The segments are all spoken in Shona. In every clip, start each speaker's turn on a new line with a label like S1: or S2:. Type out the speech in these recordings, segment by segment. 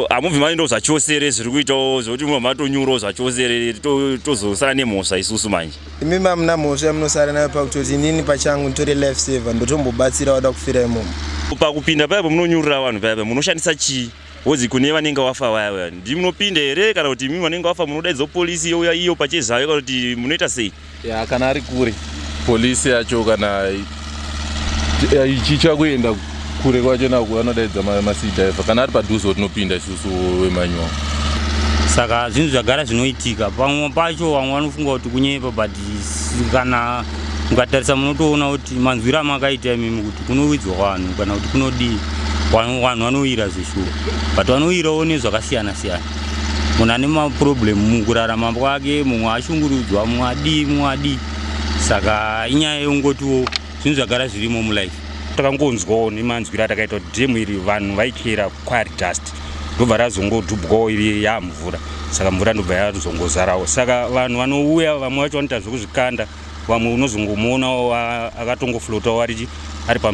S1: hamuvi maindo zvachose here zviri kuitawo zvekuti mumwe matonyurawo zvachose here tozosara nemhosva isusu manje imi mamuna mhosva
S2: yamunosara nayo pakutoti inini pachangu nditori life saver ndotombobatsira wada kufira imomo pakupinda paipo
S1: munonyurira vanhu paipa munoshandisa chii Wozi kune vanenge wafa vaya vaya ndimunopinda here kana kuti imimi vanenge wafa munodaidzwa polisi youya iyo pachezayo kana kuti munoita sei? Ya kana ari kure
S3: polisi yacho kana ichicha kuenda kure kwacho nako vanodaidza masidhaiva kana ari padhuze watinopinda isusu wemanyuwa. Saka
S4: zvinhu zvagara zvinoitika pamwe pacho vamwe vanofunga kuti kunyepa but kana mukatarisa munotoona kuti manzwiro amakaita imimi kuti kunowidzwa vanhu kana kuti kunodii vanhu vanoyira zveshuwa but vanoyirawo nezvakasiyana siyana munhu ane maproblem mukurarama kwake mumwe ashungurudzwa mumwe adii mumwe adii saka inyaya yekungotiwo zvinhu zvagara zvirimo mulife takangonzwawo nemanzwiro atakaita kuti dhemu iri vanhu vaikera quire dust ndobva razongodhubwawo iri yamvura saka mvura ndobva yazongozarawo saka vanhu vanouya vamwe vacho vanoita zvekuzvikanda vamwe unozongomuonawo akatongoflotawo arichi ari pa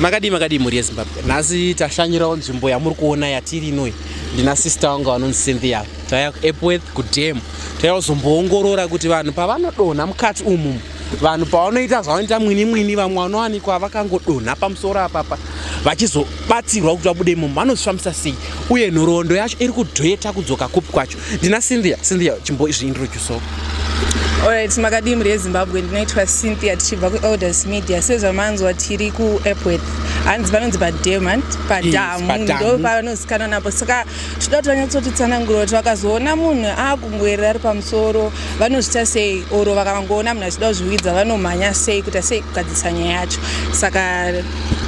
S5: makadii makadii mhuri yezimbabwe nhasi tashanyirawo nzvimbo yamuri kuona yatiri inoi ndina sister wangu vanonzi cynthia taya epworth kudam taya kuzomboongorora kuti vanhu pavanodonha mukati umu vanhu pavanoita zvavanoita mwini mwini vamwe vanowanikwa vakangodonha pamusoro apapa vachizobatsirwa kuti vabude imomo vanozvifambisa sei uye nhoroondo yacho iri kudheta kudzoka kupi kwacho ndina cynthia cynthia chimboizviintroducewo
S6: Alright, makadii mhuri yezimbabwe ndinoitwa cynthia tichibva kuelders media sezvamanzwa tiri kuepworth hanzi panonzi pademant padamu ndo panozikanwa napo saka tinoda kuti vanyatsotitsanangura kuti vakazoona munhu akungoerera ari pamusoro vanozvita sei oro vakangoona munhu achida kuzviwidza vanomhanya sei kuita sei kugadzisa nyaya yacho saka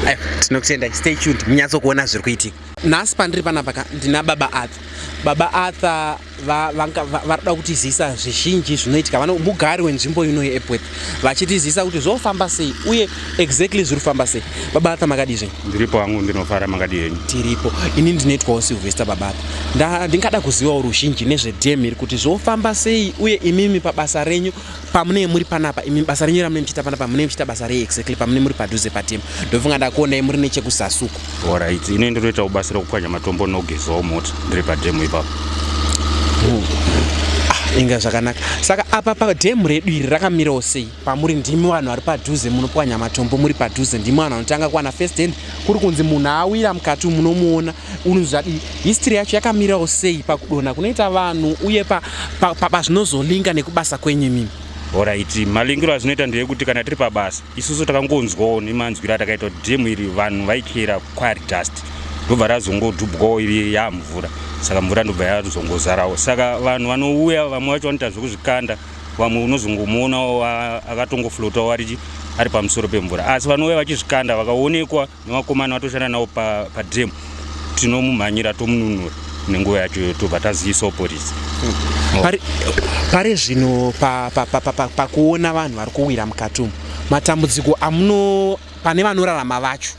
S6: Ayo,
S5: tinokutendai stay tuned munyatso kuona zviri kuitika nhasi pandiri panapa ka ndina baba arthur baba arthur va- vanga- va- vari kuda kutizivisa zvizhinji zvinoitika vano mugari wenzvimbo ino yeepworth vachitizivisa kuti zvofamba sei uye exactly zviri kufamba sei baba arthur makadii zvenyu ndiripo hangu ndinofara
S1: makadii henyu tiripo ini
S5: ndinoitwawo silvester babata Nda- ndingada kuzivawo ruzhinji nezvedam iri kuti zvofamba sei uye imimi pabasa renyu pamunee muri panapa imi basa renyu ramune muchiita panapa munee muchiita basa rei exactly pamunee muri padhuze patim ndofunga ndakuonai muri nechekusasuku orit ine
S1: ndinoitawo basa rekupwanya matombo nogezawo mota ndiri padhemu ipapo
S5: ah, inga zvakanaka saka apa padhemu redu iri rakamirawo sei pamuri ndimi vanhu vari padhuze munopwanya matombo muri padhuze ndimi vanhu vanotanga kuwana first hand kuri kunzi munhu awira mukati munomuona unhu zvadii history yacho yakamirawo sei pakudona kunoita vanhu uye pazvinozolinga pa, pa, nekubasa kwenyu imimi oraiti
S1: malingiro azvinoita ndeyekuti kana tiri pabasa isusu takangonzwawo nemanzwiro atakaita kuti dhemu iri vanhu vaikera quire dust ndobva razongodhubwawo iri yamvura saka mvura ndobva yazongozarawo saka vanhu vanouya vamwe vacho vanoita zvekuzvikanda vamwe unozongomuonawo akatongoflotawo arichi ari pamusoro pemvura asi vanouya vachizvikanda vakaonekwa nevakomana vatoshanda navo padrem tinomumhanyira tomununura nenguva yacho tobva tazivisawo porisi
S5: pari zvino pakuona vanhu vari kuwira mukati umu matambudziko amuno pane vanorarama vacho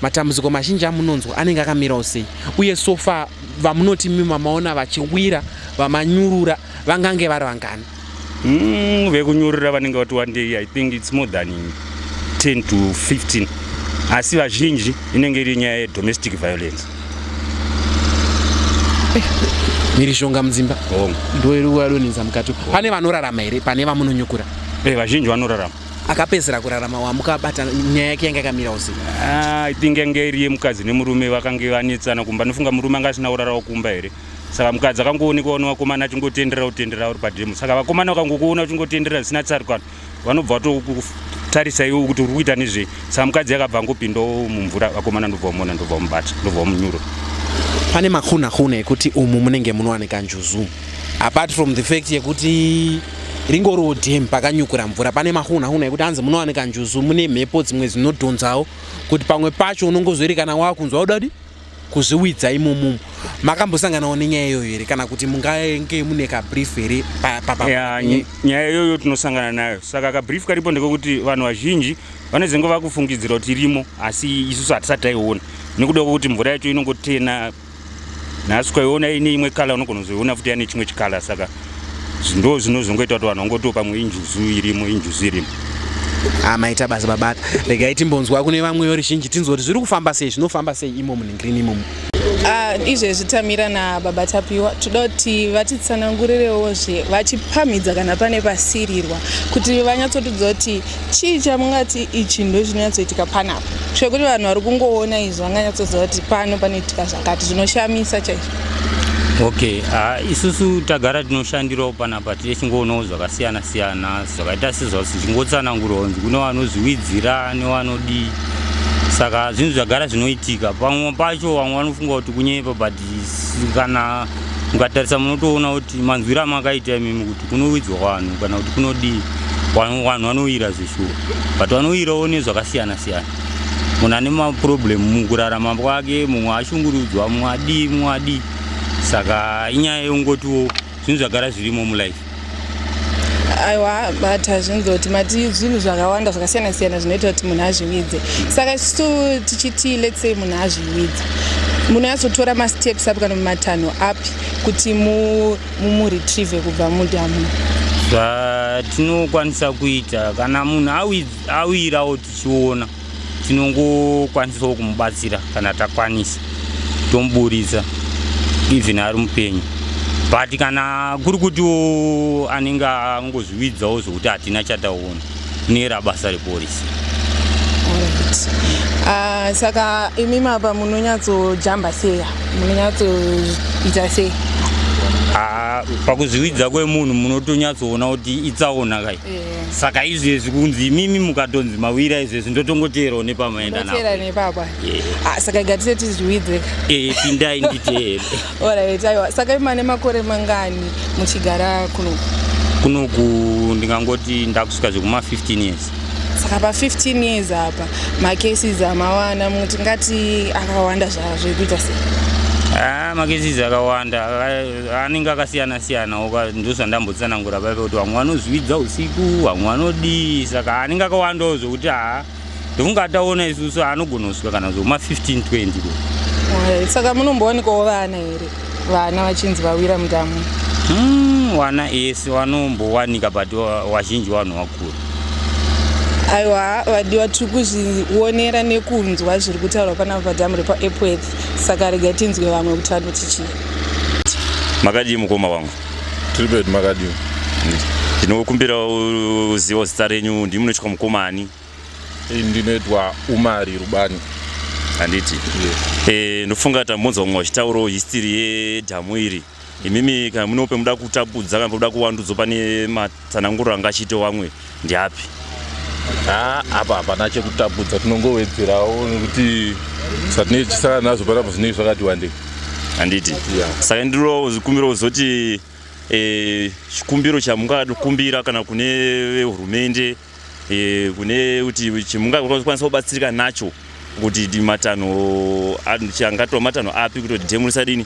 S5: matambudziko mazhinji amunonzwa anenge akamirawo sei uye sofa vamunoti mimi mamaona vachiwira vamanyurura vangange vari vangani mm,
S1: vekunyorera vanenge vati wandei i think its more than 10 to 15 asi vazhinji inenge iri nyaya yedomestic violence
S5: eh, mhirizhonga mudzimba ndoyadonenza mukati pane vanorarama here pane vamunonyukura eh, vazhinji vanorarama
S1: akapedzera kurarama
S5: wamukabata nyaya yake yange akamira usi ah, i think yange
S1: iri yemukadzi nemurume vakange vanetsana kumba nofunga murume anga asina kurarawo kumba here saka mukadzi akangoonekwa ne vakomana achingotenderera kutenderera uri pademo saka vakomana vakangokuona uchingotenderera zvisina tsarukano vanobva vatokutarisa iwo kuti uri kuita nezvei saka mukadzi yakabva angopindawo mumvura vakomana ndobva vamona ndobva vamubata ndobva vamunyuro pane
S5: makunakuna ekuti umu munenge munowanika njuzu apart from the fact yekuti ringoriwo dam pakanyukura mvura pane mahunahuna ekuti hanzi munowanika njuzu mune mhepo dzimwe dzinodhonzawo kuti pamwe pacho unongozoerekana wakunzwa udadi kuzviwidza imomo makambosanganawo nenyaya iyoyo here kana kuti mungange mune kabrief here
S1: nyaya iyoyo tinosangana nayo saka kabrief karipo ndekekuti vanhu vazhinji vanozenge vakufungidzira kuti irimo asi isusu hatisati taiona nekuda kwekuti mvura yacho inongotena nhasi kwaiona ine imwe kala unogona kuzoiona futi yane chimwe chikala saka ndo zvinozongoita kuti vanhu vangotiwo pamwe injuzu irimo injuzu irimo ah,
S5: maita basa babata regai timbonzwa kune vamwe yoruzhinji tinzwa kuti zviri kufamba sei zvinofamba sei imomu nengirini imomu ah, izvezvi
S6: tamira nababa tapiwa toda kuti vatitsanangurirewo zve vachipamhidza kana pane pasirirwa kuti vanyatsotidza kuti chii chamungati ichi ndo chinonyatsoitika panapo zvekuti vanhu vari kungoona izvi vanganyatsoziva kuti pano panoitika zvakati zvinoshamisa chaizvo okay
S4: ha isusu tagara tinoshandirawo panapa tiri chingoonawo zvakasiyana siyana zvakaita sezvasi chingotsanangurawo kunzi kune vanozviwidzira nevanodii saka zvinhu zvagara zvinoitika pamwe pacho vamwe vanofunga kuti kunyepa but kana mukatarisa munotoona kuti manzwiro amakaita imimi kuti kunowidzwa vanhu kana kuti kunodii vanhu vanoyira zveshuwa but vanoyirawo nezvakasiyana siyana munhu ane maproblem mukurarama kwake mumwe ashungurudzwa mumwe adii mumwe adii saka inyaya yekungotiwo zvinhu zvagara zvirimo mulife
S6: aiwa but hazvinzi kuti mati zvinhu zvakawanda zvakasiyana siyana zvinoita kuti munhu azvividze saka tisu tichiti lets say munhu azvividze munoyatsotora masteps api kana mumatanho api kuti mumuretrieve kubva mudamu zvatinokwanisa
S4: kuita kana munhu awirawo tichiona tinongokwanisawo kumubatsira kana takwanisa tomuburitsa even ari mupenyu but kana kuri kutiwo anenge angozviwidzawo zvokuti hatina chataona kunera basa reporisi
S6: ah, saka imi mapa munonyatsojamba seya munonyatsoita sei ah, pakuzviwidza
S4: kwemunhu munotonyatsoona kuti itsaona kai eh. saka izvezvi kunzi imimi mukatonzi mawira izvezvi ndotongoteerawo nepamaenda ndoteera nepapa
S6: ah, saka gatise tizviwidze eh, pindai
S4: nditeere orit aiwa
S6: saka imane makore mangani muchigara kuno kunoku
S4: ndingangoti ndakusvika zvekuma 15 years saka pa
S6: 15 years apa macases amawana muti ngati akawanda zvazvo ekuita sei ah, macases
S4: akawanda anenge akasiyana siyana oka ndozvandambotsanangura paive kuti vamwe vanozvividza usiku vamwe vanodii saka anenge akawandawo zvokuti haa ndofunga ataona isusu anogona kusvika kana zvoma 15 20 ko eh,
S6: saka munombowanikawo vana here vana vachinzi vawira mudamu hmm, wana
S4: ese wanombowanika but wazhinji wanhu wakura
S6: aiwa vadiwa tiri kuzvionera nekunzwa zviri kutaurwa panapa padhamu repaepworth saka rega tinzwe vamwe kuti vanotichii
S1: Makadii mukoma wangu? Tiri pedu
S3: makadii? Ndinokumbira
S1: uziva zita renyu, ndimi munoitwa mukoma ani? Eh, ndinoitwa
S3: Umari Rubani. Handiti?
S1: Yes. Eh, ndofunga tambonzwa mumwe vachitaurawo history yedhamu iri. Imimi kana munope muda kutapudza kana muda kuwandudzwa pane Tsananguro anga achiita wamwe ndiapi? Haa
S3: apa hapana chekutapudza tinongowedzerawo nekuti zvatinee chisara nazvo panapa zvinei zvakati wandei. Handiti?
S1: Yeah. Saka ndiro zikumbiro uzoti eh, chikumbiro e, chamungakumbira kana kune vehurumende e, kune kuti chimungakwanisa kubatsirika nacho kuti matanho angatwa matanho api kuti dhemu risadini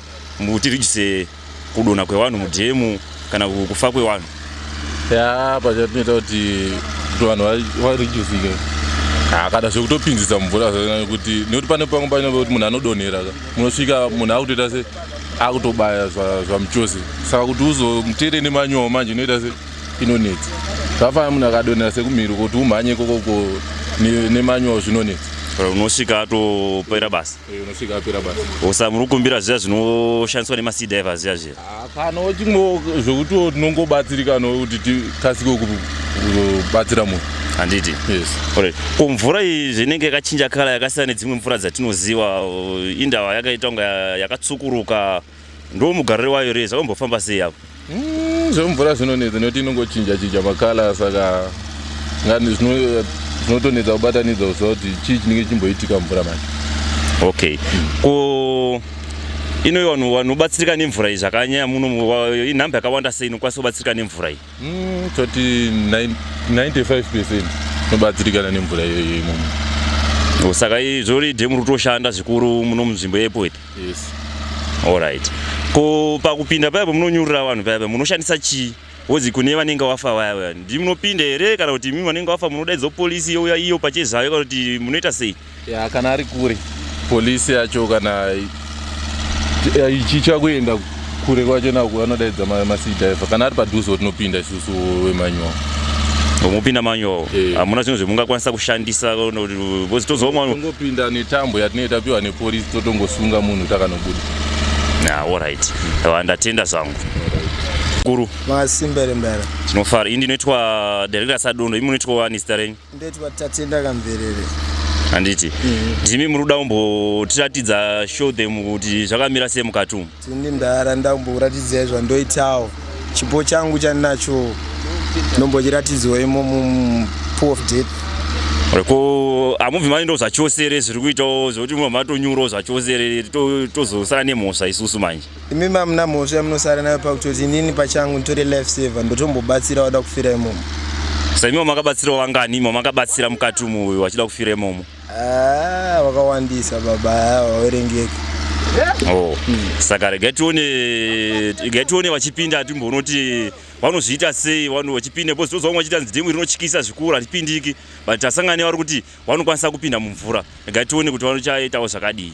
S1: kuti rijise kudona kwevanhu mudhemu kana kufa kwevanhu ya
S3: pachapinda kuti vanhu varejuzike akada zvekutopinzisa mvura kuti nekuti pane pamwe pane kuti munhu anodonhera munosvika munhu akutoita se akutobaya zvamuchose saka kuti uzomutere nemanyowa manje inoita se inonetsa zvafana munhu akadonhera sekumhiri kuti umhanye kokoko nemanyowa zvinonetsa unosvika
S1: atopera basa unosvika
S3: apera basa osa muri kukumbira zviya
S1: zvinoshandiswa nemasi diver zviya zviya kana wachingo
S3: zvekutiwo tinongobatsirika nokuti tikasike kubatsira munhu handiti yes.
S1: right.
S3: ko mvura
S1: iyi zvinenge yakachinja kala yakasiyana nedzimwe mvura dzatinoziva uh, indawa yakaita kunga yakatsukuruka Ndo mugariro wayo here zvakambofamba sei apo? Mm, zvemvura
S3: zvinonetsa nekuti inongochinja chinja makala saka ngani zvino- zvinotonetsa kubatanidza kuziva kuti
S1: chii chinenge chimboitika mvura manje. Okay. Ko
S7: ino vanhu vanobatsirika nemvura iyi zvakanyanya muno mu- wa- inhamba yakawanda sei inokwanisa kubatsirika nemvura iyi? Mm, toti
S3: nine- 95 percent inobatsirikana nemvura iyoyo imomo. Saka izvori
S7: dhemu riri kutoshanda zvikuru muno munzvimbo yepo iri. yes
S3: alright
S7: ko pakupinda paya pamunonyurira vanhu paya paya munoshandisa chii wozi kune vanenge wafa vaya vaya ndi munopinda here kana kuti imi vanenge wafa munodaidzo polisi youya iyo pachezvayo kana kuti munoita sei ya kana ari kure
S3: polisi yacho kana ichicha kuenda kure kwacho naku anodaidza masidhaiva kana ari padhuze tinopinda isusu wemanyowa mopinda
S7: manyowa eh. hamuna zvinhu zvemungakwanisa kushandisa tozongopinda
S3: netambo yatinee tapiwa nepolisi totongosunga munhu takanobuda na
S7: allright ndatenda zvangu kuru masimbere
S2: mbere tinofara ii ndinoitwa
S7: director sadondo imi munoitwa wani zita renyu Ndoitwa Tatenda
S2: Kamverere. Handiti.
S7: Mm. Jimmy muri kuda kumbotiratidza show them kuti zvakamira sei mukati umu? Tindi ndara nda
S2: kumboratidzai zvandoitawo. Chipo changu chandinacho ndombochiratidzwa imo mu pool of death. Ko
S7: amubvi mani ndo zvachose here zviri kuitawo zvekuti mumwe matonyurawo zvachose here tozosara nemhosva isusu manje. imi mamuna mhosva
S2: yamunosara nayo pakutoti inini pachangu nditore life saver ndotombobatsira wada kufira imomo saimi
S7: wamakabatsirawo vangani imi wamakabatsira mukati umu uyu wachida kufira imomo ah,
S2: wakawandisa baba wawerengeka oh.
S7: hmm. saka regai tione regai tione vachipinda timbonoti vanozviita sei vanhu vachipinda because toziva vamwe vachiita nzidemu rinotyisa zvikuru hatipindiki but tasangane vari kuti vanokwanisa kupinda mumvura regai tione kuti vanochaitawo zvakadii